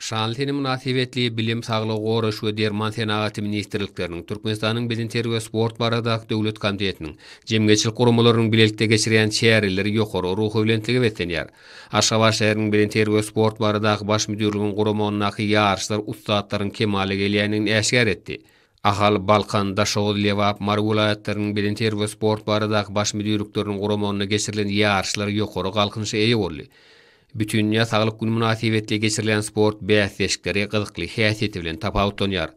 Şanly sene mynasybetli Bilim, Saglygy goraýyş we Derman senagaty ministrlikleriniň, Türkmenistanyň Bedenterbiýe we sport baradaky döwlet komitetiniň, jemgyýetçilik guramalarynyň bilelikde geçirýän çäreleri ýokary ruhubelentligi beslenýär. Aşgabat şäheriniň Bedenterbiýe we sport baradaky baş müdirliginiň guramagyndaky ýaryşlar ussatlaryň kemala gelýändigini äşgär etdi. Ahal, Balkan, Daşoguz, Lebap, Mary welaýatlarynyň Bedenterbiýe we sport baradaky baş müdirlikleriniň guramagynda geçirilen ýaryşlar ýokary galkynyşa eýe boldy. Bütindünýä saglyk güni mynasybetli geçirilýän sport bäsleşikleri gyzykly häsiýeti bilen tapawutlanýar.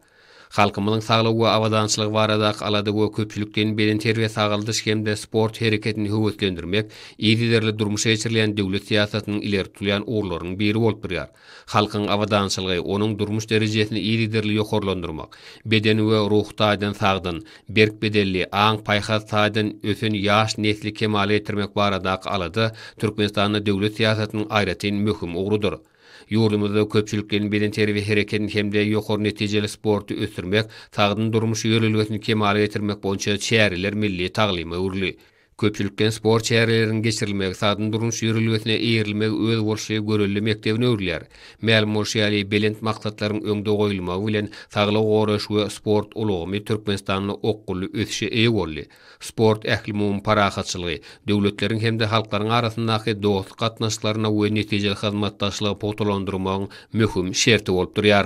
Halkymyzyň saglygy we abadançylygy baradaky alada we köpçülikleýin bedenterbiýe-sagaldyş hem-de sport hereketini höweslendirmek yzygiderli durmuşa geçirilýän döwlet syýasatynyň ileri tutulýan ugurlarynyň biri bolup durýar. Halkyň abadançylygy, onuň durmuş derejesini yzygiderli ýokarlandyrmak, beden we ruhy taýdan sagdyn, berk bedenli, aň-paýhas taýdan ösen ýaş nesli kemala getirmek baradaky alada Türkmenistanda döwlet syýasatynyň aýratyn möhüm ugrudyr. Ýurdumyzda köpçülikleýin bedenterbiýe hereketini hem-de ýokary netijeli sporty ösdürmek, sagdyn durmuş ýörelgesini kemala getirmek boýunça çäreler milli taglyma öwrüli. Köpçülikleýin sport çäreleriniň geçirilmegi sagdyn durmuş ýörelgesine eýerilmegi özboluşly görelde mekdebine öwrülýär. Mälim bolşy ýaly, belent maksatlaryň öňde goýulmagy bilen, saglygy goraýyş we sport ulgamy Türkmenistanda okgunly ösüşe eýe boldy. Sport ählumumy parahatçylygy, döwletleriň hem-de halklaryň arasyndaky dostluk gatnaşyklaryny we netijeli hyzmatdaşlygy pugtalandyrmagyň möhüm şerti bolup durýar.